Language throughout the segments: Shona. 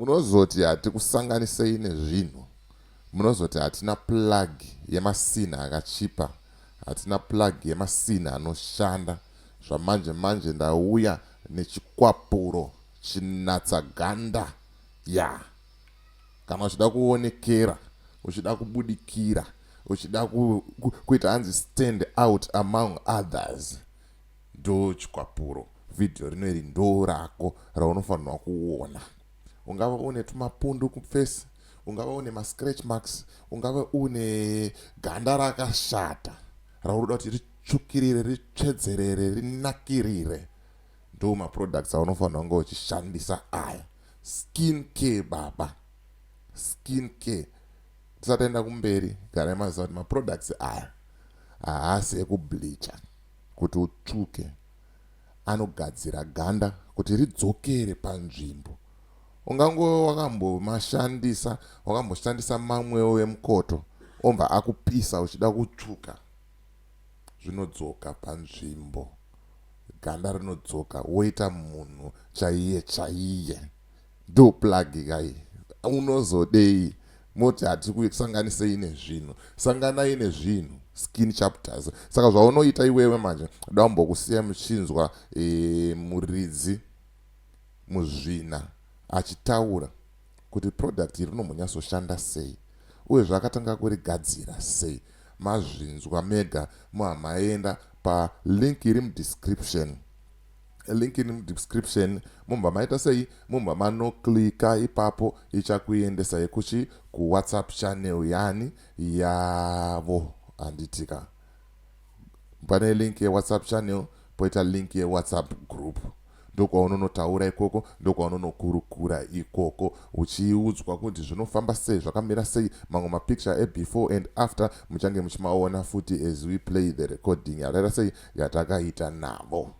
munozoti hatikusanganisei nezvinhu munozoti hatina plug yemasinha akachipa hatina plug yemasinha anoshanda zvamanje manje ndauya nechikwapuro chinatsaganda ya yeah. kana uchida kuonekera uchida kubudikira uchida kuita hanzi stand out among others ndo chikwapuro vhidhiyo rino iri ndo rako raunofanirwa kuona ungava une tumapundu kufesi ungava une mascratch marks ungava une ganda rakashata raunoda kuti ritsvukirire ritsvedzerere rinakirire ndo maproducts aunofanira kunge uchishandisa aya ah. skin care baba skin care tisataenda kumberi garai maziva kuti maproducts aya haasi ekubleacha kuti utsvuke anogadzira ganda kuti ridzokere panzvimbo ungangove wakambomashandisa wakamboshandisa mamwewo emukoto ombva akupisa uchida kutsvuka zvinodzoka panzvimbo, ganda rinodzoka woita munhu chaiye chaiye. Ndo plug kai unozodei moti hatikusanganisei nezvinhu sanganai nezvinhu skin chapters saka zvaunoita iwewe manje dambokusiya muchinzwa e, muridzi muzvina achitaura kuti product iri rinomhonyasoshanda sei uye zvaakatanga kurigadzira sei mazvinzwa mega muhamaenda palink iri mudescription link iri mudescription mumba maita sei mumba manoklika ipapo ichakuendesai kuchi kuwhatsapp channel yani yavo handitika pane link yewhatsapp channel poita link yewhatsapp group ndokwaunonotaura ikoko ndokwaunonokurukura ikoko uchiudzwa kuti zvinofamba sei zvakamira sei mamwe mapicture ebefore and after muchange muchimaona futi as we play the recording yakaita sei yatakaita navo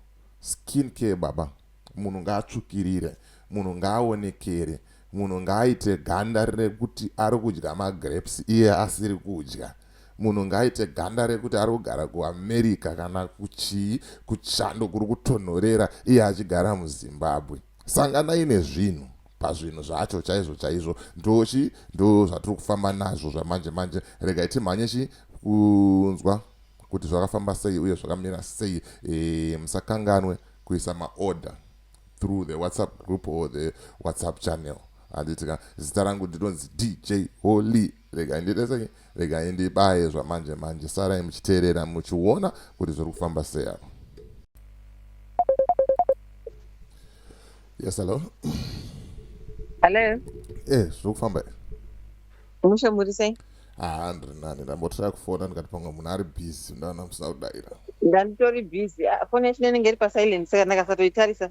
skin care baba munhu ngaatsvukirire munhu ngaaonekere munhu ngaaite ganda rekuti ari kudya magrapes iye asiri kudya Munhu ngaaite ganda rekuti ari kugara kuAmerica kana kuchii kuchando kuri kutonhorera iye achigara muZimbabwe. Sanganai nezvinhu pazvinhu zvacho chaizvo chaizvo ndochi ndo zvatiri kufamba nazvo zvamanje manje regai timhanye chi kunzwa kuti zvakafamba sei uye zvakamira sei e, musakanganwe kuisa maorder through the whatsapp group or the whatsapp channel handitika zita rangu ndinonzi dj holy regai ndiite sei regai ndibaye zvamanje manje sarai muchiteerera muchiona kuti zviri kufamba sei apa yes hello hello e eh, zviri kufamba e mushe muri sei haa ah, ndiri nani ndambotira kufona ndikati pamwe munhu ari busy ndaona musina kudaira ndanditori busy ah, foni yacho nenenge iri pasilent saka ndakasatoitarisa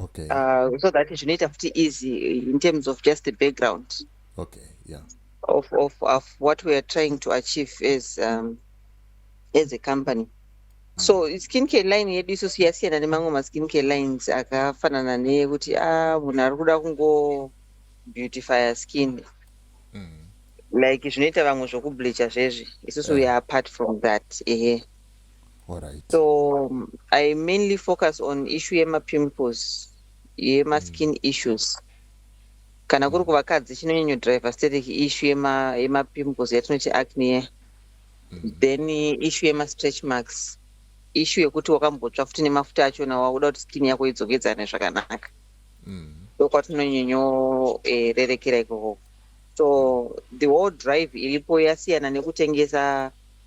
okay. uh, so that zvinoita futi easy in terms of just the background okay, yeah. of, of, of what we are trying to achieve as, um, as a company so skin care line yedu isu siyasiyana nemamwe maskin care lines akafanana neyekuti a ah, munhu ari kuda kungo beautifier skin mm. like zvinoita vamwe zvokubleacha zvezvi isusu we are apart from that ehe yeah. Alright. so um, i mainly focus on issue yemapimples yemaskin mm. issues kana kuri kuvakadzi chinonyanyo driver static issue yemapimples yema yatinoti acne mm. then issue yemastretch marks issue yekuti wakambotsva futi nemafuta achona wakuda kuti skin yako idzokedzane zvakanaka mm. ndokwatinonyonyorerekera eh, ikoko so the whole drive iripo yasiyana nekutengesa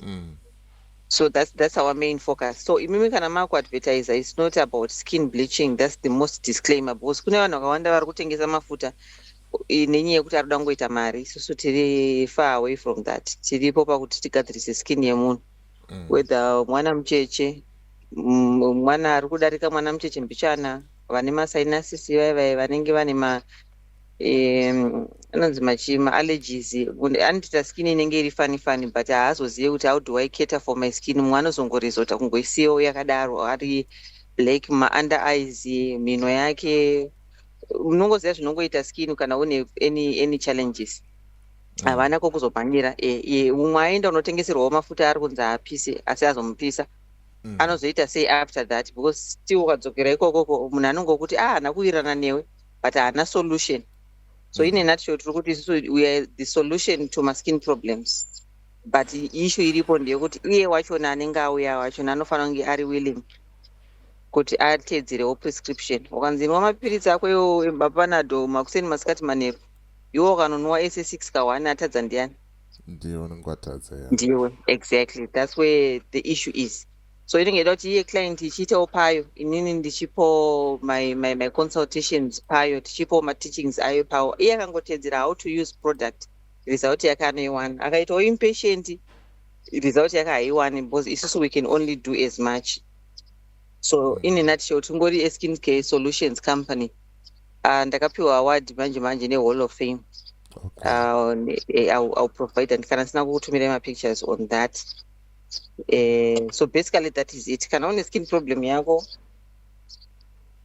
mm. so that's, that's our main focus so imimi kana makuadvertiser its not about skin bleaching that's the most disclaimer because kune vanhu vakawanda vari kutengesa mafuta nenyaya yekuti ari kuda kungoita mari isusu tiri far away from that tiripo pakuti tigadzirise skin yemunhu mm. whether mwana mucheche mwana ari kudarika mwana mucheche mbichana vane masainasisi vaye vaye vanenge vane ma um anonzi machi maallergies anotoita skin inenge iri funny funny but haazozive kuti how do i cater for my skin mumwe anozongorizota kungoisiyawo yakadaro ari black maunda eyes mhino yake unongoziva zvinongoita skin kana une any, any challenges Mm. havana mm. kokuzomhanyira e, e, umwe aenda unotengeserwawo mafuta ari kunzi haapise asi azomupisa mm. anozoita sei after that because still ukadzokera ikokoko munhu anongokuti a ah, hana kuvirana newe but haana solution so mm. in a nutshell tiri kuti isusu we are the solution to maskin problems but issue iripo ndeyekuti iye wachona anenge auya wachona anofanira kunge ari willing kuti ateedzerewo prescription ukanzi inwa mapiritsi ako iwo ebapanado makuseni masikati manheru iwo ukanonwa ese six ka one atadza ndiyani ndiwe unenge watadza ndiwe exactly thats where the issue is so inenge ida kuti iye client ichiitawo payo inini ndichipo my, my, my consultations payo tichipo mateachings ayo pawo iye akangotedzera how to use product result yake anoiwana akaitawo impatient result yake haiwani because isusu we can only do as much so in a nutshell tingori askin care solutions company uh, ndakapiwa award manje manje nehall of fame okay. uh, eh, I'll, I'll provide and kana sina kukutumirai mapictures on that eh, so basically that is it kana une skin problem yako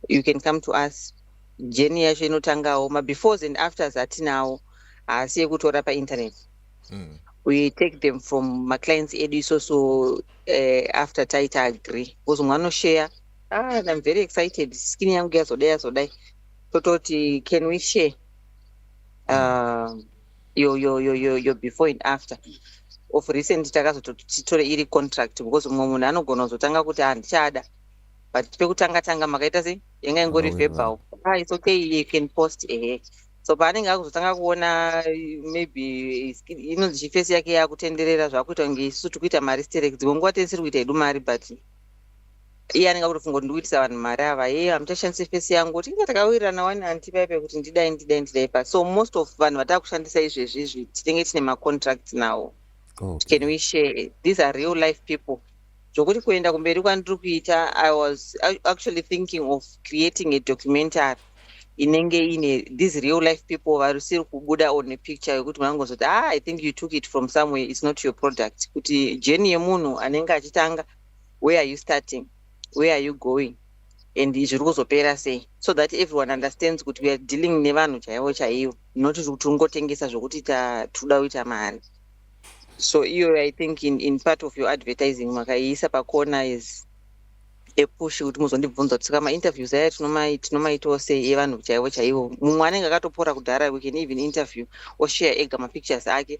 you can come to us jeni yacho inotangawo mabefores and afters atinawo haasi yekutora painternet mm. we take them from maclients edu isoso uh, eh, after taita agree bcause mumwe anoshare ah, im very excited skin yangu yazodai yazodai tototi can we share um, yo yo yo yo yo before and after of recent takazototi titore iri contract because mumwe munhu anogona kuzotanga kuti handichada but pekutanga tanga makaita sei yanga ingori verbal ah it's okay you can post ehe so paanenge akuzotanga kuona maybe inonzi chifesi yake yakutenderera zvakuita kunge isu tikuita mari sterek dzimwe nguva tesiri kuita hedu mari but iye anenge akutofunga kuti ndikuitisa vanhu mari ava yeye hamuchashandise fesi yangu kuti inga takawirirana wani anti paipe kuti ndidai ndidai ndidai pa so most of vanhu vatava kushandisa izvezvi izvi tinenge tine macontracts nawo okay. can we share these are real life people zvokuti kuenda kumberi kwandiri kuita i was actually thinking of creating a documentary inenge ine these real life people varisiri kubuda on a picture yekuti vanongozoti ah i think you took it from somewhere its not your product kuti jeni yemunhu anenge achitanga where are you starting where are you going and izvi uri kuzopera sei so that everyone understands kuti weare dealing nevanhu chaivo chaivo not kuti tiri kungotengesa zvokuti tikuda kuita mari so iyo i think in, in part of your advertising makaiisa pakona is epush kuti muzondibvunza kuti saka mainterviews aya tinomaitawo sei evanhu chaivo chaivo mumwe anenge akatopora kudhara we can even interview oshare ega mapictures ake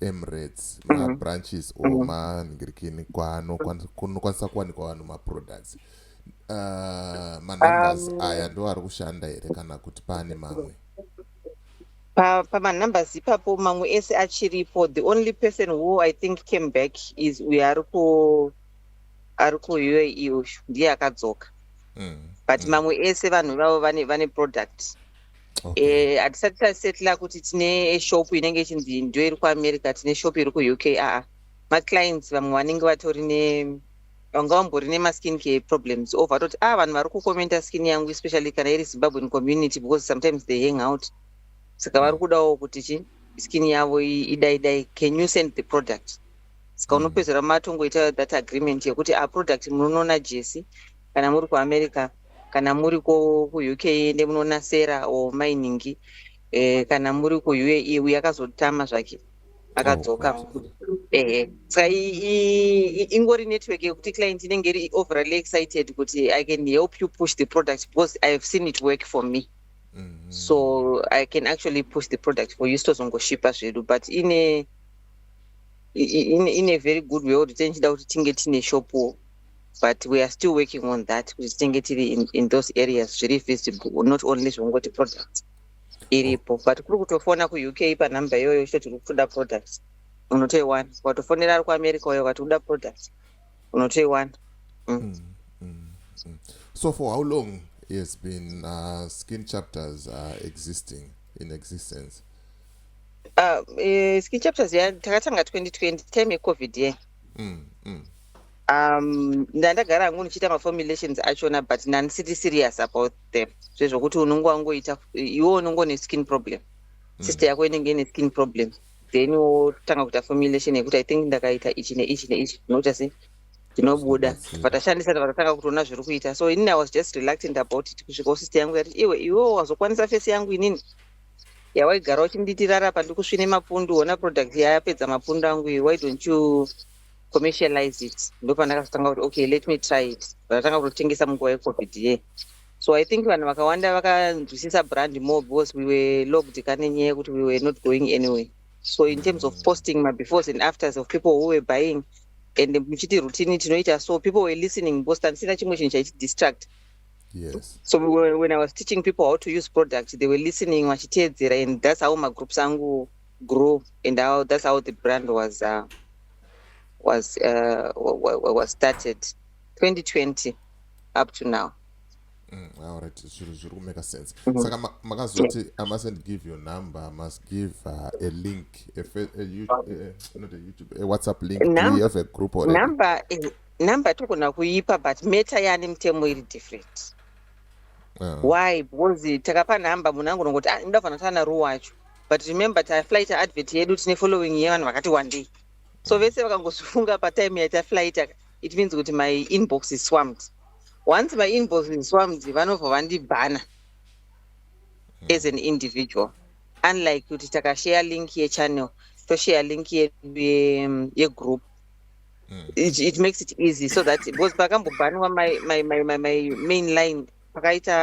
emirates mm. mabranches mm. or mm. manhirikini kwanokwanisa kuwanikwa vanhu maproducts uh, manumbers um, aya ndo ari kushanda here kana kuti pane mamwe pamanumbers pa ipapo mamwe ese achiripo the only person who i think came back is uyo ari ku ari kuuae uyu ndiye akadzoka mm. but mm. mamwe ese vanhu vavo vane, vane product Eh, hatisati tasetla kuti tine shop inenge ichinzi ndo iri kuamerica tine shop iri kuuk aa maclients vamwe vanenge vatori ne vanga vambori nemaskin care problems ov vatoti a ah, vanhu vari kucomenta skin yangu especially kana iri zimbabwean community because sometimes they hang out saka vari kudawo kuti chi skin yavo idaidai can you send the product saka mm. unopedzera matongoita that agreement yekuti a ah, product munonoona jesi kana muri kuamerica kana muri ko kuuk ende munoona sera or mainingi eh, kana muri kuuae uye akazotama zvake akadzoka ehe saka i- i- i- ingori network yekuti client inenge iri overly excited kuti i can help you push the product because i have seen it work for me Mhm. so i can actually push the product for you sitozongoshipa zvedu but ine i- i- ine, ine very good way yekuti tenichida kuti tinge tine shopuwo but we are still working on that kuti tinenge tiri in, in those areas zviri visible not only zvongoti products iripo but kuri kutofona kuuk panhamba iyoyo chito tiri kutoda products unotoiwana ukatofonera ari kuamerica uyo ukati uda products unotoiwana mm. mm, mm, mm. so for how long has been uh, skin chapters uh, existing in existence uh, uh, skin chapters ya takatanga 2020 time yecovid ye mm, mm. um ndandagara hangu ndichiita maformulations achona but nandisiti serious about them zvezvokuti unonge wangoita iwe unongo neskin problem mm. sister yako inenge ine skin problem then wotanga kuita formulation yekuti i think ndakaita ichi neichi neichi unoita se tinobuda patashandisa patatanga kutoona zviri kuita so inini i was just reluctant about it kusvika usister yangu yati iwe iwe wazokwanisa fesi yangu inini yawaigara uchinditirara pandikusvine mapundu ona product yayapedza mapundu angu iyo why don't you commercialize it ndopandakazotanga kuti okay let me try it ndatanga kutotengesa munguva yecovid ye so i think vanhu vakawanda vakanzwisisa brand more because we were logged kane nyaya yekuti we were not going anyway so in terms of posting mabefores and afters of people who were buying and muchiti routine tinoita so people were listening because tandisina chimwe chinhu chaitidistract Yes. So when I was teaching people how to use product, they were listening, vachiteedzera, and that's how magroups angu grew and how that's how the brand was uh, was uh, was started 2020 up to now mm, alright zviro zviri kumeka sense mm -hmm. saka makazoti ma i mustn't give your number i must give uh, a link a, a, a, a, not a, YouTube, a whatsapp link Num we have a group or number is, number togona kuipa but meta yaane mutemo iri different uh. why because takapa number munhu angonongoti ah, ndoda kufanatana ruwacho but remember taflyita advert yedu tine following yevanhu vakati wandei so vese vakangozvifunga patime yataflyita it means kuti my inbox is swamped once my inbox is swamped vanobva vandibhana as an individual unlike kuti takashare link yechannel toshare link yegroup mm. it, it makes it easy so that because pakambobhaniwa my, my, my, my, my main line pakaita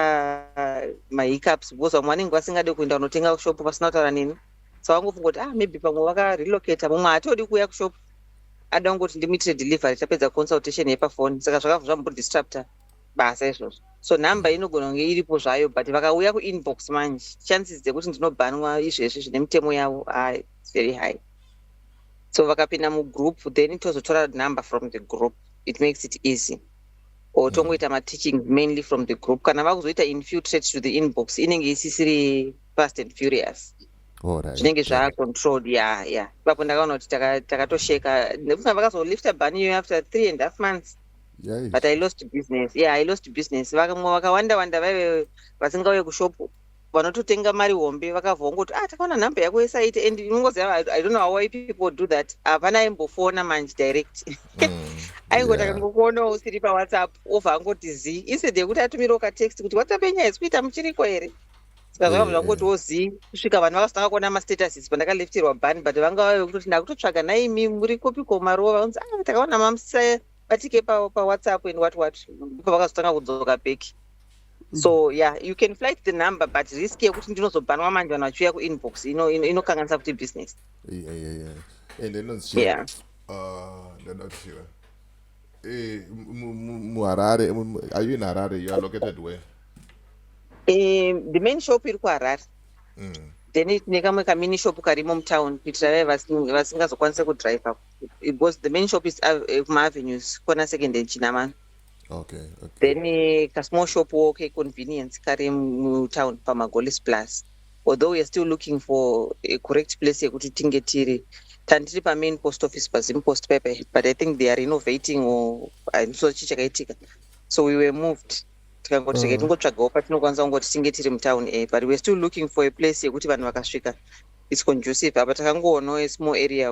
mahiccups because vamwe vanenge vasingade kuenda kunotenga kushop vasina kutaura neni so vangofunga kuti ah maybe pamwe vakarelocata mumwe haatodi kuuya kushop ada kungoti ndimuitire delivery tapedza consultation yepafoni saka zvakabva zvambodestructa basa izvozvo so number inogona kunge iripo zvayo but vakauya kuinbox manje chances dzekuti ndinobhanwa izvezvi zvine mitemo yavo ah, it's very high so vakapinda mugroup then tozotora number from the group it makes it easy or tongoita mateaching mainly from the group kana vakuzoita infiltrate to the inbox inenge isisiri fast and furious zvinenge zvacontrolled ya ya ipapo ndakaona kuti takatosheka nekuti vakazolifta bani iyoyo after three and half months but i lost business yeah i lost business vakamwe vakawanda wanda vaive vasingauye kushopu vanototenga mari hombe vakabva vongoti ah takaona nhamba yako yesaite and inongoziva i don't know why people do that hapana aimbofona manje direct mm, aingoti akangokuonawo usiri pawhatsapp obva angoti zii instead yekuti atumirawo katext kuti whatsapp yenyaya isi kuita muchiriko here sikazvakabva zvangotiwo zii kusvika vanhu vakazotanga kuona mastatuses pandakalefterwa bani but vanga vave kutoti ndakutotsvaga naimi muri kopiko marova vanzi a ah, takaona mamusa batike pawhatsapp and what what ipo vakazotanga kudzoka bheki so mm. yeah you can flight the number but risk yekuti ndinozobhanwa manje vanhu vachiuya kuinbox inokanganisa kuti business and inonzichia ah, ndada kuziva eh, muharare are you in harare you are located where eh, the main shop iri kuharare mm. then tine kamwe kamini shop karimo mutown kuitira vaye vasingazokwanise kudriver because the main shop is eh, kumaavenues kona second and chinamano okay, okay. then eh, kasmall shop wo keconvenience kari mutown pamagolis plus although weare still looking for a correct place yekuti tinge tiri tandiri pamain post office pazim post paper but i think they are renovating or so chi chakaitika so we were moved tikangoti rege mm. tingotsvagawo patinokwanisa kungoti tinge tiri mutown a but weare still looking for a place yekuti vanhu vakasvika its conducive apa takangoonawo a small area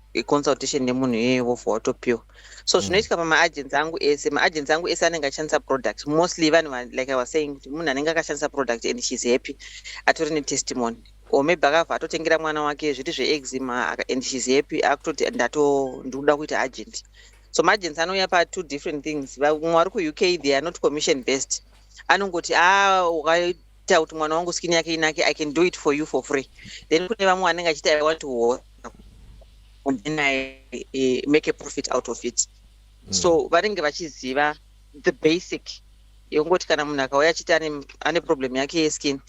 consultation nemunhu iyoyo vobva watopiwa so mm. zvinoitika pamaagency angu ese maagency angu ese anenge achishandisa product mostly vanhu like i was saying kuti munhu anenge akashandisa product and sheis happy atori netestimony or maybe akabva atotengera mwana wake zviti zveexima and sheis happy akutoti ndato ndikuda kuita agent so maagency anouya patwo different things vamwe vari kuuk they are not commission based anongoti a ah, ita kuti mwana wangu skin yake inake i can do it for you for free then kune vamwe vanenge achiti i want to work and then i eh, make a profit out of it mm. so vanenge vachiziva the basic yekungoti kana munhu akauya achiti ane problem yake yeskin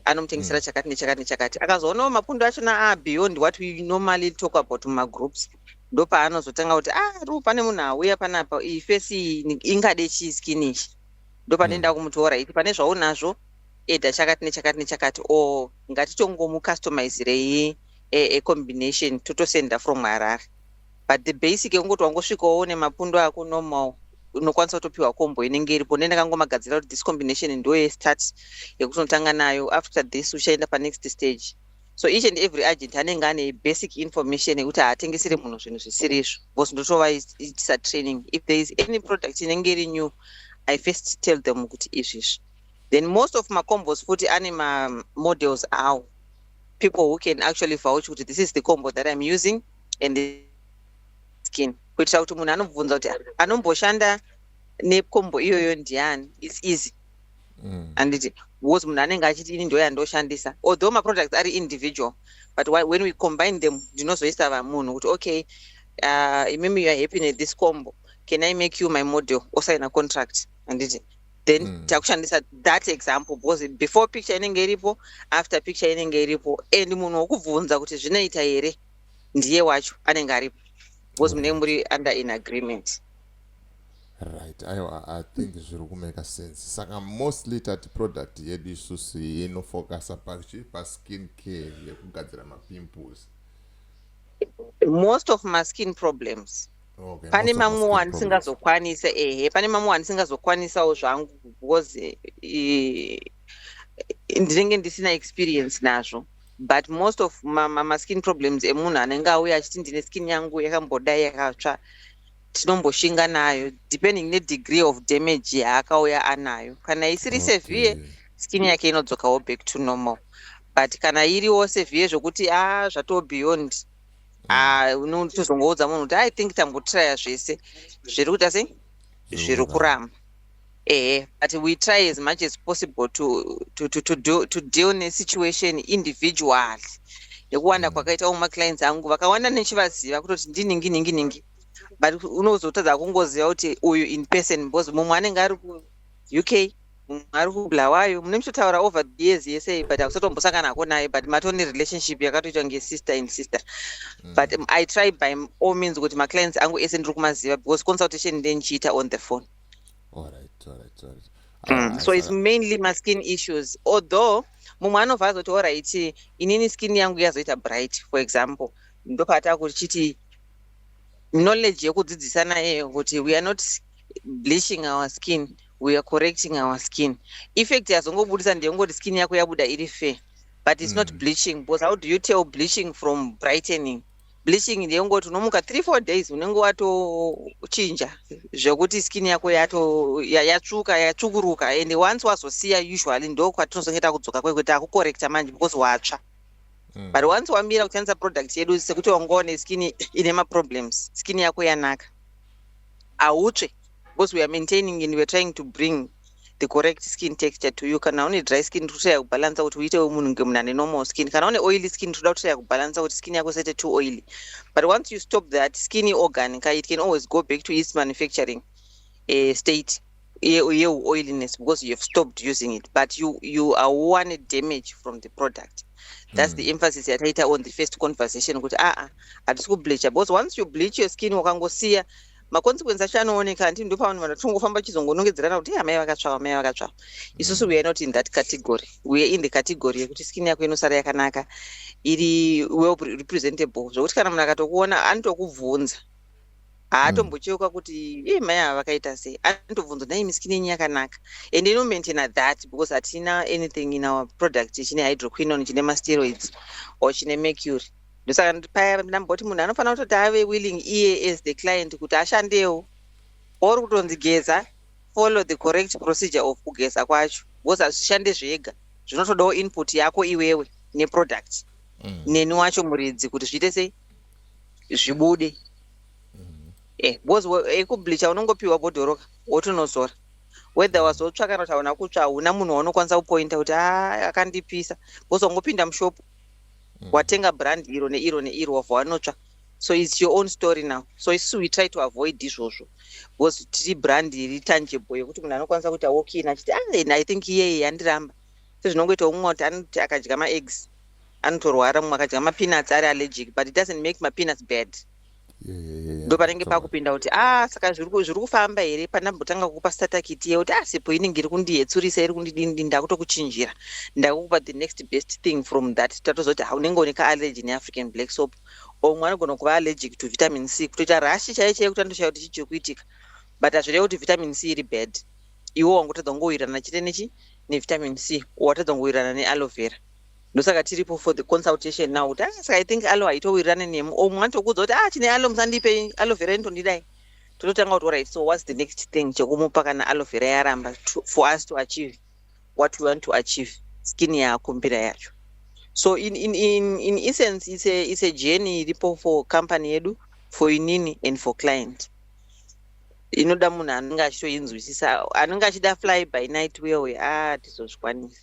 anomutengesera mm. chakati nechakati nechakati akazoonawo mapundu achona a ah, beyond what we normally talk about mumagroups ndopaanozotanga kuti a ah, ru pane munhu auya panapa iyi fesi ingadei chii skin ichi ndopanoenda mm. kumutora iti pane zvaunazvo eda chakati nechakati nechakati o ngatitongomucustomizirei ecombination e, e totosenda from harare but the basic yekungoti wangosvikawo nemapundo ako normal unokwanisa kutopiwa kombo inenge iripo ne ndakangomagadzira kuti this combination ndoye start yekutonotanga nayo after this uchaenda panext stage so each and every agent anenge ane basic information yekuti haatengesere munhu zvinhu zvisiri izvo because ndotovaitisa training if there is any product inenge iri new i first tell them kuti izvi izvi then most of macombos futi ane mamodels awo people who can actually vouch kuti this is the combo that im using and skin kuitira kuti munhu anobvunza kuti anomboshanda necombo iyoyo ndiani its easy mm. anditi because munhu anenge achiti ini ndoya ndoshandisa although maproducts ari individual but when we combine them ndinozoisa vamunhu kuti okay uh, imimi youare happy nethis combo can i make you my model osaina contract anditi then mm. takushandisa that example because before picture inenge iripo after picture inenge iripo and munhu wokubvunza kuti zvinoita here ndiye wacho anenge aripo because mm. munenge muri under in agreement right aiwa i think zviri kumeka sense saka mostly tati product yedu isusu inofocusa pachi paskin care yekugadzira mapimples most of maskin problems okay, pane mamwe wandisingazokwanisa ehe pane mamwe wandisingazokwanisawo zvangu because eh, ndinenge ndisina experience nazvo but most of maskin ma, ma problems emunhu anenge auya achiti ndine skin yangu yakambodai yakatsva tinomboshinga nayo depending nedegree of damage yaakauya anayo kana isiri okay. severe skin yake inodzokawo back to normal but kana iriwo severe zvokuti a ah, zvatoo beyond ah, unotozongoudza munhu kuti i think tambotraya zvese zviri kuita sei zviri kuramba ehe but we try as much as possible to, to, to, to, do, to deal nesituation individually nekuwanda mm. kwakaitawo maclients angu vakawanda nechivaziva kutoti ndiningi ningi ningi but unozotadza kungoziva kuti uyu in person because mumwe anenge ari kuuk mumwe ari kubulawayo mune muchitaura over the years yese but hakusatombosangana hako naye but matone relationship yakatoitwa ngesister in sister mm. but um, i try by all means kuti maclients angu ese ndiri kumaziva because consultation ndendichiita on the phone all right, all right, all right. Mm. so it's mainly maskin issues although mumwe anobva azoti orit inini skin yangu yazoita bright for example ndopata kuchiti knowledge yekudzidzisana iyoyo kuti we are not bleaching our skin we are correcting our skin effect yazongobudisa ndeyongoti skin yako yabuda iri fair but it's mm. not bleaching because how do you tell bleaching from brightening bleaching ndeyongoti unomuka three four days unenge watochinja zvekuti skin yako yato yatsvuka yatsvukuruka and once wazosiya usually ndokwatinozongeta kudzoka kwekuti akukorekta manje because watsva Mm. but once wamira kushandisa product yedu sekuti wangowa neskin ine maproblems skin yako yanaka hautsve because we are maintaining and weare trying to bring the correct skin texture to you kana une dry skin totaya kubalansa kuti uite wemunhu nge munhu ane normal skin kana une oily skin toda kutotaya kubalansa kuti skin yako sete too oily but once you stop that skin organ ka it can always go back to its manufacturing uh, state yeuoiliness because you have stopped using it but you, you are one damage from the product that's mm. the hmm. emphasis yataita on the first conversation kuti aa ah, ah, hatisi kubleacha because once you bleach your skin wakangosiya maconsequence acho anooneka hanti ndo pavanhu vanhu vatongofamba chizongonongedzerana kuti amai vakatsvava amai vakatsvava mm. isusu weare not in that category weare in the category yekuti skin yako inosara yakanaka iri well representable zvokuti kana munhu akatokuona anotokubvunza haatombocheuka mm. kuti ii mai ava vakaita sei anotobvunza nai miskin yenyu yakanaka and inomaintaina that because hatina anything in our product chine hydroquinon chine masteroids or chine mercury ndosaka paya ndamboti munhu anofanira kutoti ave willing iye as the client kuti ashandewo or kutonzi geza follow the correct procedure of kugeza kwacho because hazvishande zvega zvinotodawo input yako iwewe neproduct mm. neni wacho muridzi kuti zviite sei zvibude eh because ekubleacha eh, unongopiwa bhodhoroka wotonozora whether wazotsva kana kuti hauna kutsva hauna munhu waunokwanisa kupointa kuti a ah, akandipisa because wangopinda mushopu mm. watenga brand iro neiro neiro wabva wanotsva so its your own story now so isu we try to avoid izvozvo because tiri brand iri tangible yekuti munhu anokwanisa kuita walkin achiti ah, i think iyeye yandiramba sezvinongoitawo mumwe kuti anoti akadya maeggs anotorwara mumwe akadya mapeanuts ari allergic but it doesn't make mapeanuts bad ndo panenge pakupinda kuti a ah, saka zviri kufamba here pandambotanga kukupa statakiti ye kuti a ah, sipo inenge iri kundiyetsurisa iri kundidini ndakutokuchinjira ndakukupa the next best thing from that tatozoti ha unenge une kaallergy neafrican black soap or mwe anogona kuva allergic to vitamin c kutoita rashi chaiye chaiye kuti andoshaya kuti chii chiri kuitika but hazvireva kuti vitamin c iri bad iwo wangotadza kungowirirana chete nechi nevitamin c watadza kungowirirana nealoe vera ndosaka tiripo for the consultation now kuti ah, saka i think aloe haitowirirane nemu or mumwe anotokuudza kuti ah chine aloe musandipe aloe vera inotondidai tototanga kuti orit so whats the next thing chekumupa kana aloe vera yaramba for us to achieve what we want to achieve skin yaakumbira yacho so in, in, in, in essence it's a, it's a journey iripo for company yedu for inini and for client inoda munhu anenge achitoinzwisisa anenge achida fly by night uye uye a ah, tizozvikwanisa